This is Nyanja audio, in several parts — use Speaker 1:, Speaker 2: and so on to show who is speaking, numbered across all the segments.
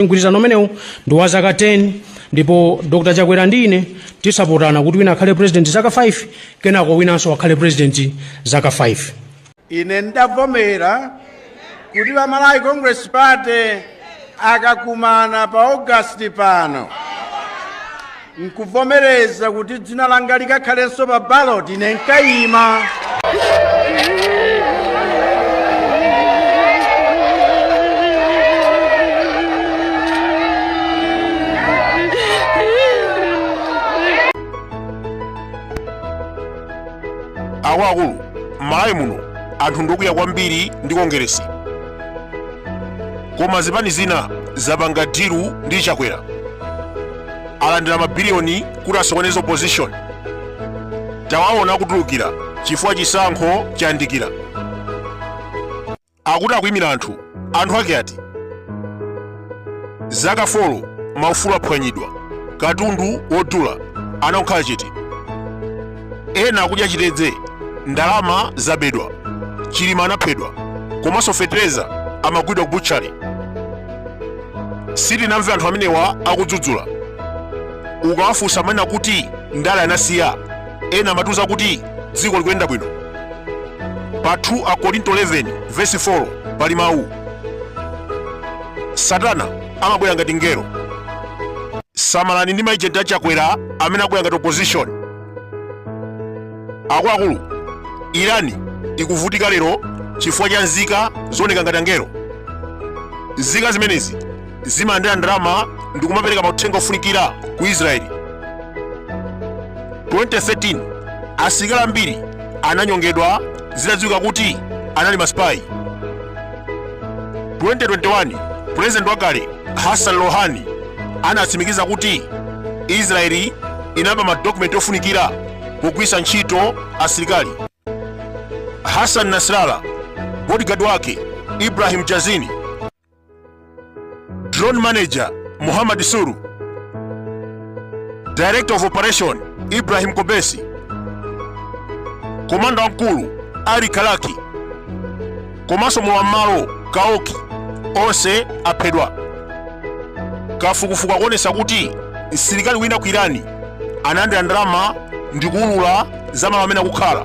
Speaker 1: mgwirizano umenewu ndi wa zaka 10 ndipo dr chakwera ndi ine tisapotane kuti wina akhale president zaka 5 kenako winanso akhale president zaka 5
Speaker 2: ine ndidavomera kuti a malawi congress party akakumana pa august pano nkuvomereza kuti dzina langa likakhalenso pa baloti ine
Speaker 3: ndikayima akuluakulu m'malawi muno anthu ndi okwiya kwambiri ndi kongeresi koma zipani zina zapanga dilu ndi chakwera alandira mabiliyoni kuti asokoneze opposition tawaona akutulukira chifukwa chisankho chayandikira akuti akuyimira anthu anthu ake ati zaka folo maufulu aphwanyidwa katundu wodula anangokhala chete ena akudya chitedze ndalama zabedwa chilima anaphedwa komanso fetereza amagwidwa ku butchali sitinamve anthu amenewa akudzudzula ukawafunsa amanena kuti ndale anasiya ena amatiuza kuti dziko likuyenda bwino pa 2 akorinto 11 vesi 4 pali mawu satana amabwera ngati mngelo samalani ndi maejenti a chakwera amene akubwera ngati opposition akuluakulu irani ikuvutika lero chifukwa cha nzika zooneka ngati angelo nzika zimenezi zimalandira ndalama ndi kumapereka mauthenga ofunikira ku israeli 2013 asilikali ambiri ananyongedwa zitadziwika kuti anali masipayi 2021 pulezidenti wakale hassan rouhani anatsimikiza kuti israeli inaba madokumenti ofunikira pogwiritsa ntchito asilikali hassan nasrallah bodyguard wake ibrahim jazini Drone Manager Muhammad Suru, Director of Operation Ibrahim Kobesi, Komanda Mkulu Ali Kalaki, komanso mlowam'malo Kaoki onse aphedwa. Kafukufuku akuonetsa kuti msilikali wina ku Irani analandira ndalama ndi kuulula za malo amene akukhala.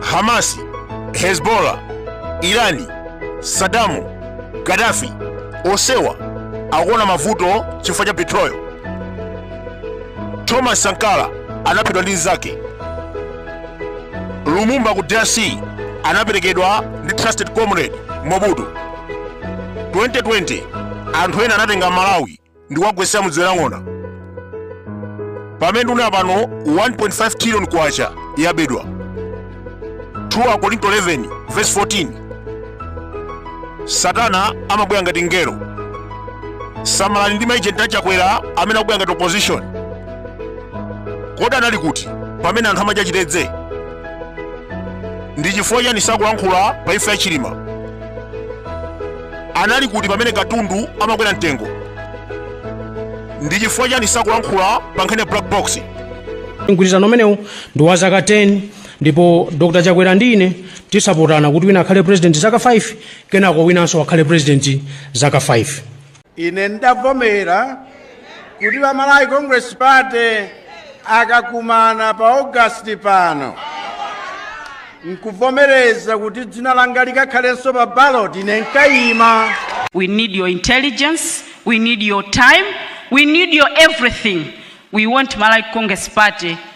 Speaker 3: Hamasi, Hezbollah, Irani, Sadamu, Gaddafi onsewa akuona mavuto chifukwa cha betrayal. Thomas Sankara anaphedwa ndi mnzake. Lumumba ku DRC anaperekedwa ndi trusted comrade Mobutu. 2020 anthu ena anatenga Malawi ndi kuwagwetsa m'dziwe la ng'ona pamene ndikunena pano 1.5 trillion kwacha yabedwa 2 akorinto 11 verse 14 satana amabwera ngati mngelo samalani ndi maejenti a chakwera amene akubwera ngati opposition kodi anali kuti pamene anthu amadya chitedze ndi chifukwa chani sakulankhula pa imfa ya chilima Anali kuti pamene katundu amakwera mtengo? Ndi chifukwa chani sakulankhula pa nkhani ya black box? Mgwirizano
Speaker 1: umenewu ndi wa zaka 10 ndipo Dr. Chakwera ndi ine tidzapatsana kuti wina akhale president zaka 5 kenako winanso akhale president zaka 5. Ine
Speaker 2: ndavomera kuti a malawi congress party akakumana pa augasti pano nkuvomereza kuti dzina langa likakhalenso pa ballot ine nkayima We need
Speaker 4: your intelligence. We need your time. We need your everything. We want Malawi Congress Party